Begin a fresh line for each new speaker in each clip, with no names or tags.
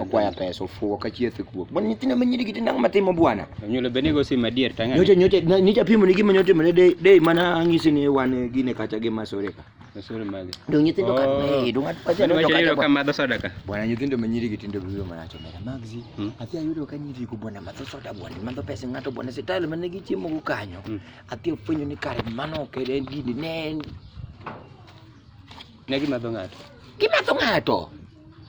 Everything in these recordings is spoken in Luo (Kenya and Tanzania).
okwaya pesa ofuwo ka chieth e kuok bon nyithindo ma nyirigi tinang' matimo bwana nyulo bene go sim adier tang'e nyocha nyocha na- nyocha pimo ni gima nyotimone de de mana ang'isi ni wan gine kacha gi masore ka masuri mage dong nyithindo ka Oh. eh dong at pacha Mano no wacho yudo ka kacha madho soda ka bwana nyithindo ma nyirigi tinde biro mana to mera magzi Mm. athi ayudo ka nyiri go bwana madho soda bwana madho pesa ng'ato bwana sitalo mane gichiemo go kanyo Mm. athi ofwenyo ni kare mano ok en gini ne en Ne gimadho ng'ato. Gimadho ng'ato.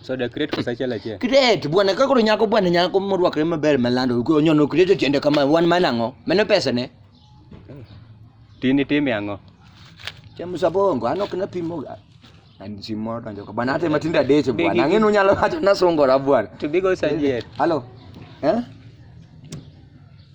So the create kosa achiel achiel. Create bwana ka koro nyako bwana nyako morwakre maber malando onyono create tiende kama wan mana ang'o? Mano pesa ne. Tini time ang'o? Chamo sabongo an ok napimo and si moro donjo ka bwana hata matindo adek bwana ang'e nunyalo wacho nasungora bwana. To bigo sanjier. Hello. Eh?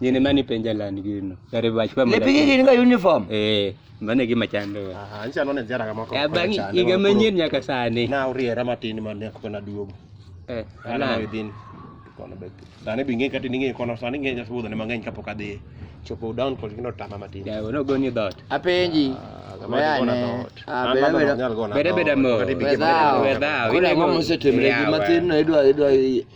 Gini mani penja land gino. Yare bach pa mada. Lepigi gin ga uniform. Eh, mane gima chando. Aha, ancha none ziara kama kwa. Ya bangi iga manyien nyaka sani. Na uriera matin ma ne kona duogo. Eh, ana within kono be. Dane binge kati ninge kono sani nge nyasu bodho ne mang'eny kapok adhi. Chopo down kod gino tama matin. Ya, ono goni dot. Apenji. Bede bede mo. Wedao. Wedao. Kuna mwa muse temre. Gima tinu idwa idwa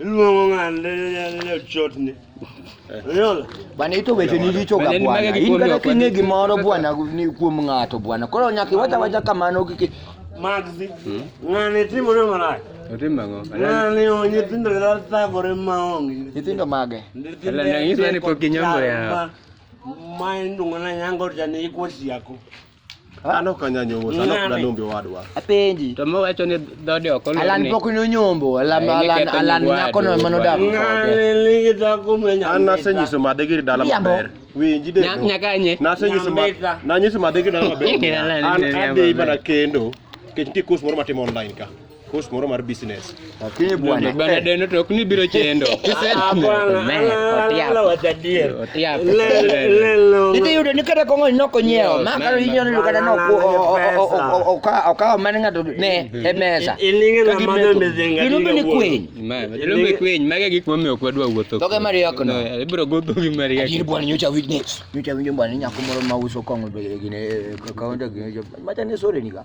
Luongo ng'ani ne chotni. Unaona? Bwana ito weche ni richo ka bwana. In kata kinge gimoro bwana ni kuom ng'ato bwana. Koro nyaka iwacha wacha kamano kiki. Magzi. Hmm? Ng'ani timo ne marach. Otimo ang'o? Ng'ani o nyithindo kata thagore maonge. Nyithindo mage? Ala nang'isa ni pok ginyombo ya. Ma indung'o na nyango jani ikwa siako. An ok anya nyombo, an ok danombe wadwa. Apenji. To mo wacho ni dhode ok olor. Alan pok ni onyombo, Alan Alan Alan nyako no mano dak. An nasenyiso made gir dala maber. Winji de. Nyaka nye. Nasenyiso made. Nanyiso made gir dala maber. An adhi mana kendo. Kech nitie course moro matimo online ka. Kuhusu moro mar business. Lakini bwana bwana eh. deno to kni biro chendo. Ah, Otiapo. Otiapo. Lelo. Ndio yudo ni kata kongo no konyeo. Ma karo inyo ni kata no ku oka oka mane ngato ne e mesa. Ilinge na mano mezenga. Ilumbe ni kweny. Ma ilumbe kweny mage gik momiyo kwadwa wuotho. Toke mari yako no. Eh, ibiro godho gi mari yako. Akiri bwana nyocha witness. Nyocha winjo bwana nyako moro ma uso kongo gine kaonda gine. Macha ne sore ni ga.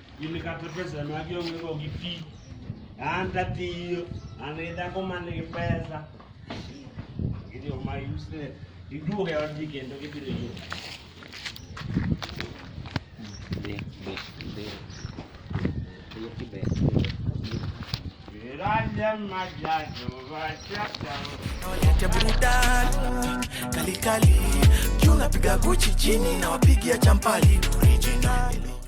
Gini kata pesa ma gionge go gi ti. An tatiyo, an gi dhako man gi pesa. Gini ma yuse, iduog e odgi kendo gibiro yudo. Niite burudani kalikali juu napiga guchi chini na wapigia champali original